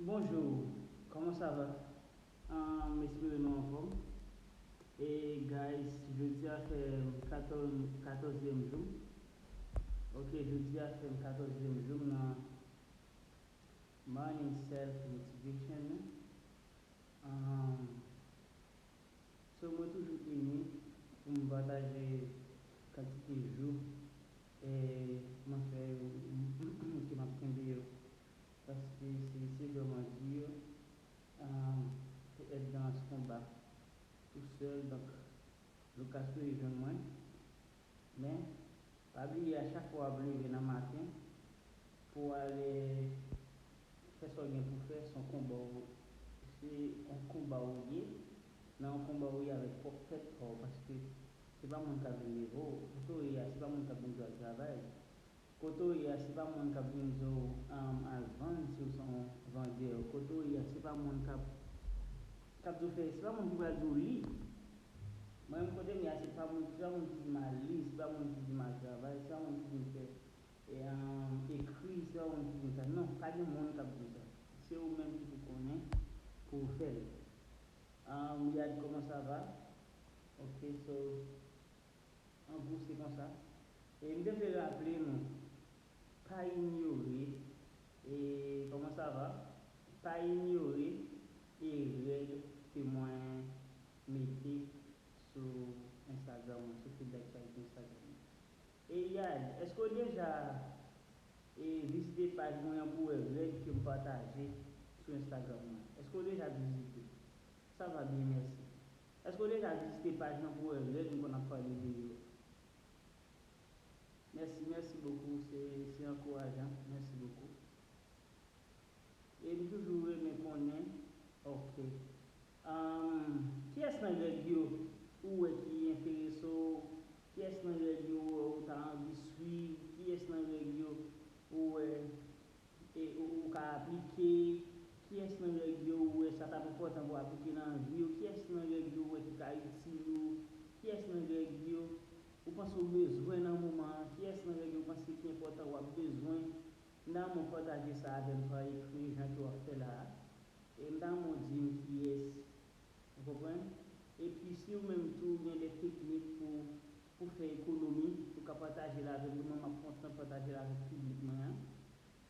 Bonjour comment ça va m espere nou anfom e guys jodia fem 14 zyem joum ok jodia fem 14 zyem joum nan morning self motivation nan aahmm so mwen toujou ini poum pataje kantite jou Kman fè yo ok map kenbe yo paske se se vreman dur pou et dans ce combat tout seul donc Lucas tou rejwenn mwen men pa bliye a chak fwa wap leve nan maten pou w ale fè sa w gen pou w fè son konba w se yon konba w ye nan yon konba w ye avèk pwòp tèt pa w paske Se pa moun kap vin leve w. Kote w ye a se pa moun kap vin di w al travay. Kote w ye a se pa moun kap vin di w al vann si w se yon vandè. Kote w ye a se pa moun kap kap di w fè se pa moun ki pral di w li. Mwen menm kote m ye a se pa moun se pa moun ki di m al li se pa moun ki di m al travay se pa moun ki di m fè ekri se pa moun ki di m sa non pa gen moun kap di w sa se ou menm ki pou konnen pou w fè l. Ahh Riyad kòman sa va? Ok so an gwo se konsa. E m te vle raple nou pa inyore e comment ça va pa inyore e règ ke mwen mete sou Instagram mwen sou fil d'actualité Instagram mwen. E Yad eske w deja e vizite paj mwen an pou wè règ ke m pataje sou Instagram mwen? Eske w deja vizite? Sa va byen mèsi. Eske w deja vizite paj lan pou wè règ m konn ap pale de yo? Mèsi, mèsi bokou se se ankourajan. Mèsi bokou. E m toujou renmen konnen ok. Umm kiyès nan règ yo ou wè ki enterese w? Kiyès nan règ yo ou wè ou ta anvi swiv? Kiyès nan règ yo ou wè E ou ka aplike? Kiyès nan règ yo ou wè sa t ap enpòtan pou w aplike nan vi w? Kiyès nan règ yo ou wè ki ka itil ou? Kiyès nan règ yo ou panse ou bezwen nan moman an? Kiyès nan règ yo ou panse ki enpòtan w ap bezwen nan moman an? Pataje sa avè m pa ekri jan ke w ap fè la a. E m ta renmen w di m kiyès. Ou konprann? Epi si ou menm tou ou gen de teknik pou Ou fè ekonomi, ou ka pataje l avèk nou, mwen m ap kontan pataje l avèk piblik mwen an.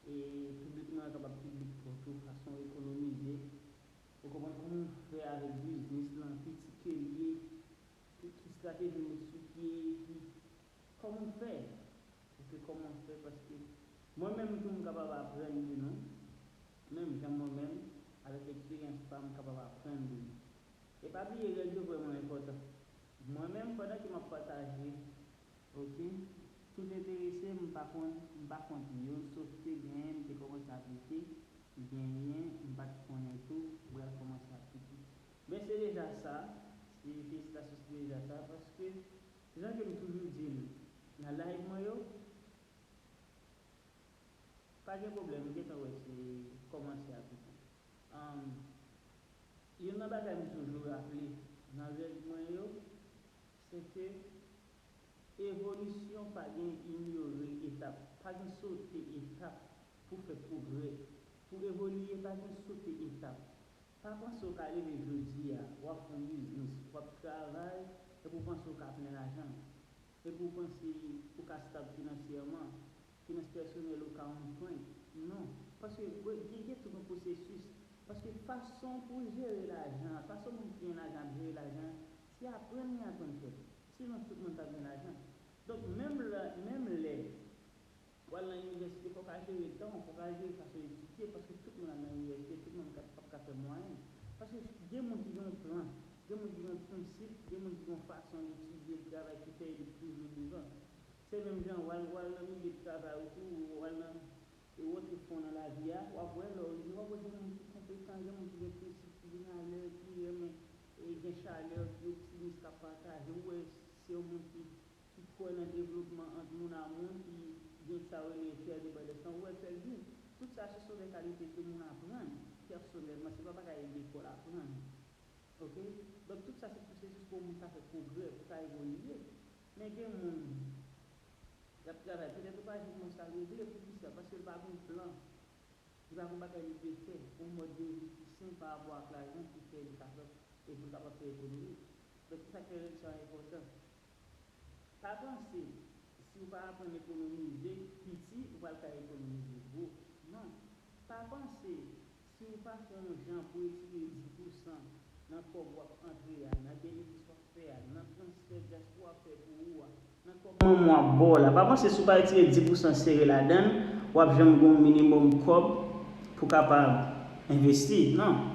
E piblik mwen an kapab piblik pa w tou, fason w ekonomize, ou konprann kòman w fè avèk biznis lan, ki ti ke l ye, ki estrateji w met sou pye, epi kòman w fè, ok, kòman w fè, paske mwen menm tou m kapab aprann de nou, menm jan mwen menm, avèk eksperyans pa m, m kapab aprann de nou. E pa bliye règ yo vrèman enpòtan. Mwen menm pandan ke map pataje ok tout enterese m pa konn m pa kont yo sof ke genyen m te komanse aplike genyen m pat konnen tou bral komanse aplike men se deja sa se felisitasyon se deja sa paske jan ke m toujou di l nan live mwen yo pa gen pwoblèm m gentan wè se komanse aplike. Umm youn nan bagay m toujou raple nan règ mwen yo se ke evolisyon pa gen inyore etap, pa gen sote etap pou fè pwogrè, pou evolye pa gen sote etap. Pa panse w ka leve jodi a w ap fè yon biznis, w ap travay epi w panse w ka plen lajan, epi w panse ou ka stab finansyèman, Finans pèsonèl ou ka on prank. Non. Paske gwe gen gen tout on pwosesis. Paske fason pou w jere lajan an, fason moun ki gen lajan ap jere lajan an, se aprann li aprann fè. Sinon tout moun pap gen lajan. Donk menm lè, menm lè w al nan inivèsite fò w ka jere tan w, fò w ka jere fason w etidye paske tout moun ap nan inivèsite, tout moun ka pap ka fè mwayèn. Paske gen moun ki gen on plan, gen moun ki gen on prensip, gen moun ki gen on fason l etidye, l travay ki fè li toujou devan. Se menm jan wal wal nan milye travay ou tou ou wal nan e wè ki fon nan lavi a wap wè lè ou rive wap wè gen moun ki konpetan gen moun ki gen prensip ki vin alè ki renmen e gen chalè ki optimis kap pataje ou wè se yon moun ki ki kwè nan devlopman ant moun a moun ki gen sa yo rele kè de bande san ou wè kèl di tout sa se son de kalite ke moun aprann pèsonèlman se pa bagay lekòl aprann ok donk tout sa se pwosesis pou yon moun ka fè pwogrè pou ka evolye. Men gen moun yap travay petèt ou pa jwenn mwen sa regle poukisa paske li pa gen plan li pa gen bagay li vle fè yon mòd de vi ki sen pa rapò ak lajan ki fè li kapab e pou l kapab fè ekonomi donk se sak fè règ sa enpòtan pa panse si ou pa aprann ekonomize piti ou pral ka ekonomize gwo non pa panse Si ou pa fè yon jan pou etire 10 pou san nan kòb wap antre a, nan benefis wap fè a, nan transfè dyaspora fè pou ou a, nan kòb manman w ap ba w la, pa panse si w pa etire 10 pou san sere ladan l, wap janm gen yon minimòm kòb pou w kapab envesti. Non.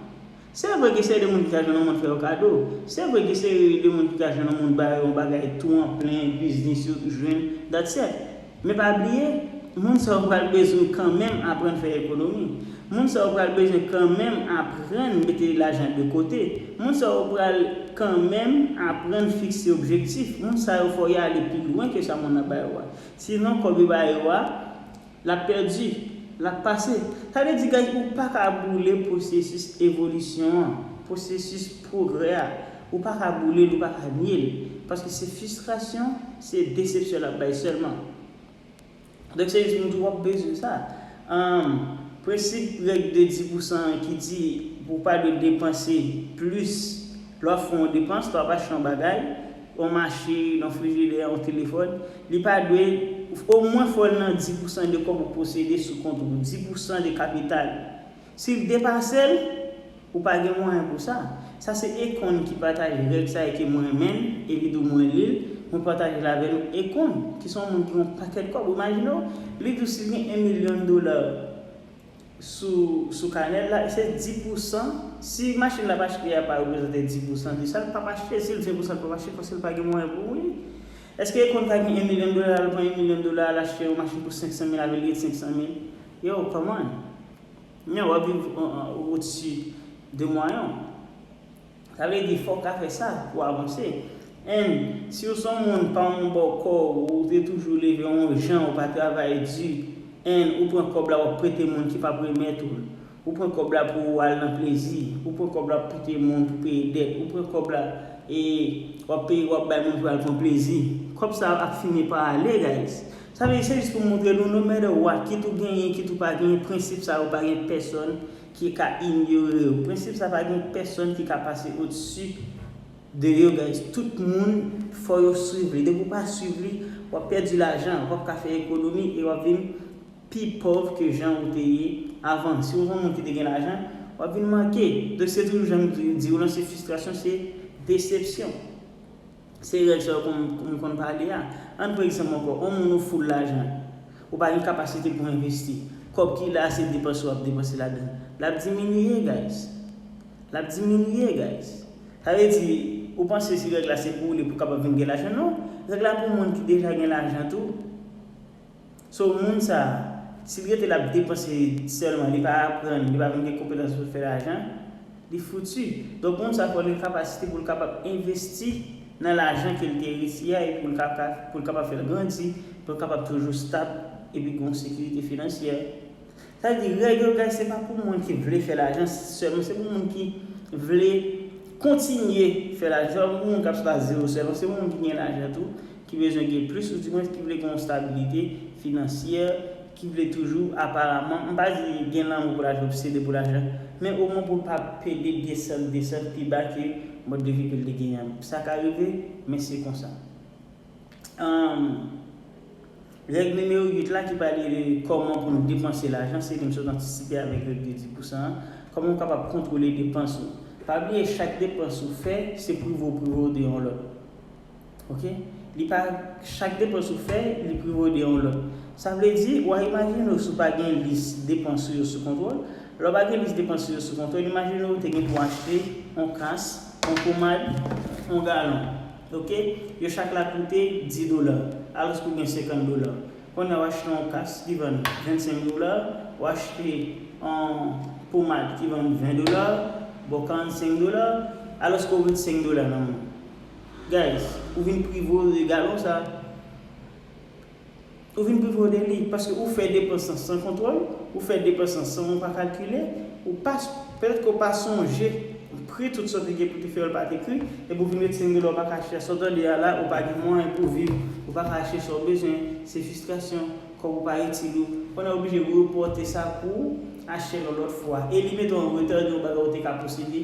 Se vre gen seri de moun ki ka jwenn yon moun fè yo kado, se vre gen seri de moun ki ka jwenn yon moun ba yo yon bagay tou an plen, biznis yo jwenn, that's it. Men pa bliye, moun sa yo pral bezwen kanmenm aprann fè ekonomi. Moun sa yo pral bezwen kanmenm aprann mete lajan de kote. Moun sa yo pral kanmenm aprann fikse objektif. Moun sa yo fò y ale pi lwen ke sa moun nan ba yo a. Sinon, kòb yo ba yo a, l ap pèdi, l ap pase. Sa vle di guys, ou pa ka boule pwosesis evolisyon an, pwosesis pwogrè a. Ou pa ka boule l ou pa ka nye l. Paske se fistrasyon, se desepsyon l ap bay sèlman. Donk se jis moun ki wap bezwen sa. Anm, prensip règ de di pou san an ki di pou w pa dwe depanse plis lè wap fè yon depans, lè wap achte yon bagay, yon machin, yon frijidè, yon telefòn, li pa dwe, omwen fò l nan di pou san de kòb ou posede sou kont ou, di pou san de kapital. Si l depase l, ou pa gen mwayen pou sa. Sa se Econ ki pataje règ sa e ke mwen renmen l e li di w mwen li l, mwen pataje l avè nou. Econ, ki se yon moun ki gen yon pakèt kòb, ou imajine w, li di w si l gen 1 milyon dola sou sou kanè l la, se 10 pousan, si machin l ap achte a pa reprezante 10 pousan de sa, l pap achte, si l di 1 pousan l pap achte paske l pa gen mwayen pou li. Eske Econ ka gen 1 milyon dola, l pran 1 milyon dola a l achte yon machin pou 500 mil avè l rete 500 mil? Yow, come on! Men wap viv o dsi de mwayen w. Sa vle di fòw ka fè sa pou avanse. And siw son moun pa yon bò kò ou te toujou leve yon jan ou pa travay di and ou pran kòb la wap prete moun ki pap remèt ou l. Ou pran kòb la pou ou al nan plezi, ou pran kòb la pou prete moun pou peye dèt, ou pran kòb la e wap peye wap bay moun pou al pran plezi. Kòb sa ap fini pa ale guys. Sa vle di se jis pou moutre nou no matter what, kit ou genyen, kit ou pa genyen, prensip sa yo pa gen pèsòn ki ka inyore yo. Prensip sa pa gen pèsòn ki ka pase odsi de yo guys. Tout moun fò yo swiv li. Depi ou pa swiv li, w ap pèdi lajan, w ap ka fè ekonomi e w ap vin pi pòv ke jan ou te ye avan. Si ou se yon moun ki te gen lajan, w ap vin manke. Donk se toujou jan m di ou lan, se fistrasyon, se desepsyon. Se règ sa yo moun konn pale a. Ann pran egzanp ankò, on moun ou full lajan, ou pa gen kapasite pou envesti. Kòb ki la a se depanse wap depanse ladan l. Lap diminye guys. Lap diminye guys. Sa vle di, ou panse si règ la se pou ou li pou kapab vin gen lajan, non. Règ la pou moun ki deja gen lajan tou. So moun sa, sil rete lap depanse sèlman li pa aprann, li pa menm gen konpetans poul fè lajan, li foutu. Donk moun sa fòl gen kapasite poul kapab envesti nan lajan kel te eriti a epi poul ka poul kapab fèl grandi, poul kapab toujou stab epi gon sekirite finansyè. Sa vle di règ yo guys se pa pou moun ki vle fè lajan sèlman se pou moun ki vle kontinye fè lajan se pa pou moun kap sot a zero sèlman se pou moun ki gen lajan tou ki bezwen gen plis ou di mwens ki vle gen yon stabilite finansyè ki vle toujou aparaman m pa di gen lanmou pou lajan obsede pou lajan men omwen pou l pa pede desann desann pi ba ke mòd de vi ke l te genyen an sa ka rive men se konsa. Humm règ nimewo 8 la ki pale de kòman pou nou depanse lajan se li m sot antisipe avèk règ de 10 pousan an, kòman ou kapab kontwole depans ou. Pa bliye chak depans ou fè se prive ou prive w de yon lòt ok li pa chak depans ou fè li prive w de yon lòt sa vle di w a imajine w si w pa gen lis depans ou yo sou kontwòl lè w pa gen lis depans ou yo sou kontwòl imajine w te gen pou w achte yon kas yon pomad yon galon. Ok yo chak la koute 10 dola alos pou gen 50 dola konya w achte yon kas ki vann 25 dola w achte yon pomad ki vann 20 dola bon 45 dola alos ke w met 5 dola nan men w guys ou vin prive w de galon sa. Ou vin pi vòlè li, paske ou fè depans lan san kontwòl, ou fè depans lan san ou pa kalkile, ou pa, petèt ke ou pa sonje pri tout sa ou te gen pou te fè yo l pa te pri, epi ou vin ret sengele ou pa ka achte a, sa w tande a la, ou pa gen mwayen pou w viv, ou pa ka achte sa w bezwen, se fistrasyon, kòb ou pa itil ou, kounye a ou blije repòte sa pou w achte l yon lòt fwa, e li mete w an reta de yon bagay ou te ka posede,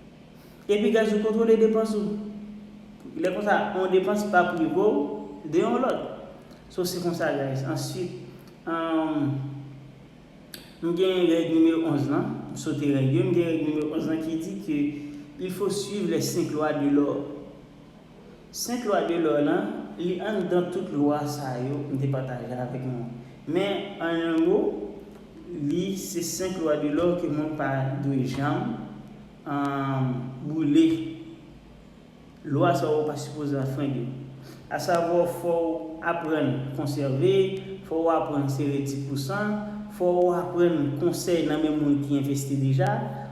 Epi guys ou kontrole depans ou. Lè konsa yon depans pa prive w de yon lòt. So se konsa guys. Answit humm m gen règ nimewo 11 lan, m sote règ yo, m gen règ nimewo 11 lan ki di ke il faut suivre les 5 lois de l'or. 5 lwa de lò lan, li anndan tout lwa sa yo m te pataje avèk nou an. Men, an yon mo, li se 5 lwa de lò ke moun pa dwe janm boule. Lwa sa yo pa sipoze anfrende. Asavwa fò ou aprann konsève, fò ou aprann sere ti pousan, fò ou aprann konsèy nan men moun ki envesti deja,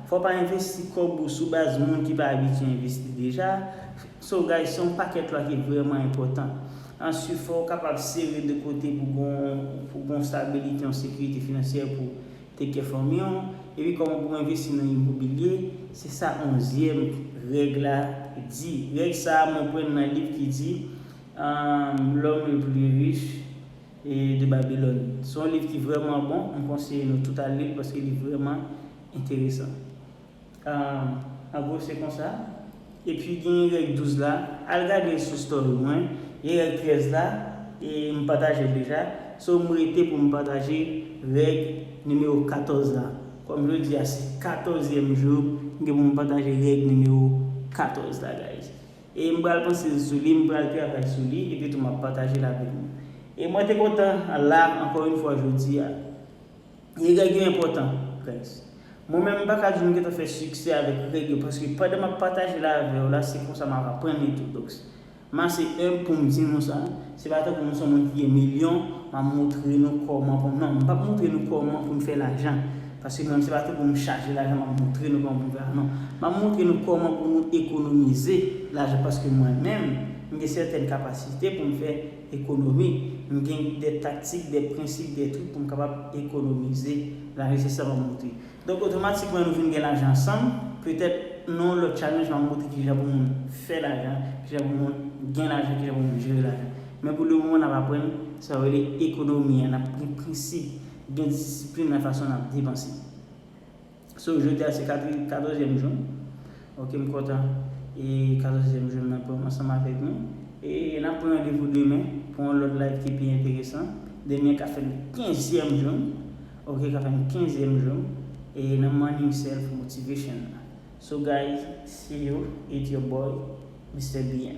fò pa envesti kòb ou sou baz moun ki pa abitye envesti deja, So guys se yon pakèt lwa ki vrèman enpòtan. Answit fò ou kapab sere de kote pou pou gon stabilite yon sekirite finansyè pou take care fanmi w, epi kòman pou envesti nan imobilye, se sa onzyèm règ la di. Règ sa a mwen prann nan liv ki di L'homme le plus riche de Babylone. Se yon liv ki vrèman bon, m konseye nou tout al li l paske li vrèman enteresan. Ahh an gwo se konsa. Epi gen règ 12 la, al gade sou story mwen, gen règ 13 la e m patajel deja, so m rete pou m pataje règ nimewo 14 la, kòm jodi a se 14 zyèm jou m gen pou m pataje règ nimewo 14 la guys. E m pral panse sou li, m pral travay sou li epi tou m ap patajel avèk nou. E mwen te kontan la ankò yon fwa jodi a. E règ yo enpòtan guys. Mwen menm m paka di m gentan fè siksè avèk règ yo paske pandan map pataje la avèw la se konsa map aprann li tou donc m ase humble poum di nou sa se pa tankou m son moun ki gen milyon map moutre nou kòman pou non m pap moutre nou kòman poun fè lajan paske mwen se pa tankou m chaje lajan map moutre nou kòman poun fè lajan non map moutre nou kòman pou nou ekonomize lajan paske mwen menm m gen sètèn kapasite poum fè Ekonomi, m gen de taktik, de prensip, de trik pou m kapab ekonomize la nesesèman monte. Donk otomatikman nou vin gen lajan ansanm, petèt nan yon lòt challenge m ap montre kijan pou moun fè lajan, kijan pou moun gen lajan, kijan pou moun jere lajan. Men pou le moman n ap aprann sa yo rele ekonomi an, n ap gen prensip, gen disiplin nan fason n ap depanse. So jodi a se katri katòzyèm jou m ok m kontan e katòzyèm jou m nan pou m ansanm avèk nou e n ap pran randevou demen pou yon lòt live ki pi enteresan demen ka fè m kenzyèm jou m ok ka fè m kenzyèm jou m e nan morning self motivation nan so guys see you it your boy Mister BM.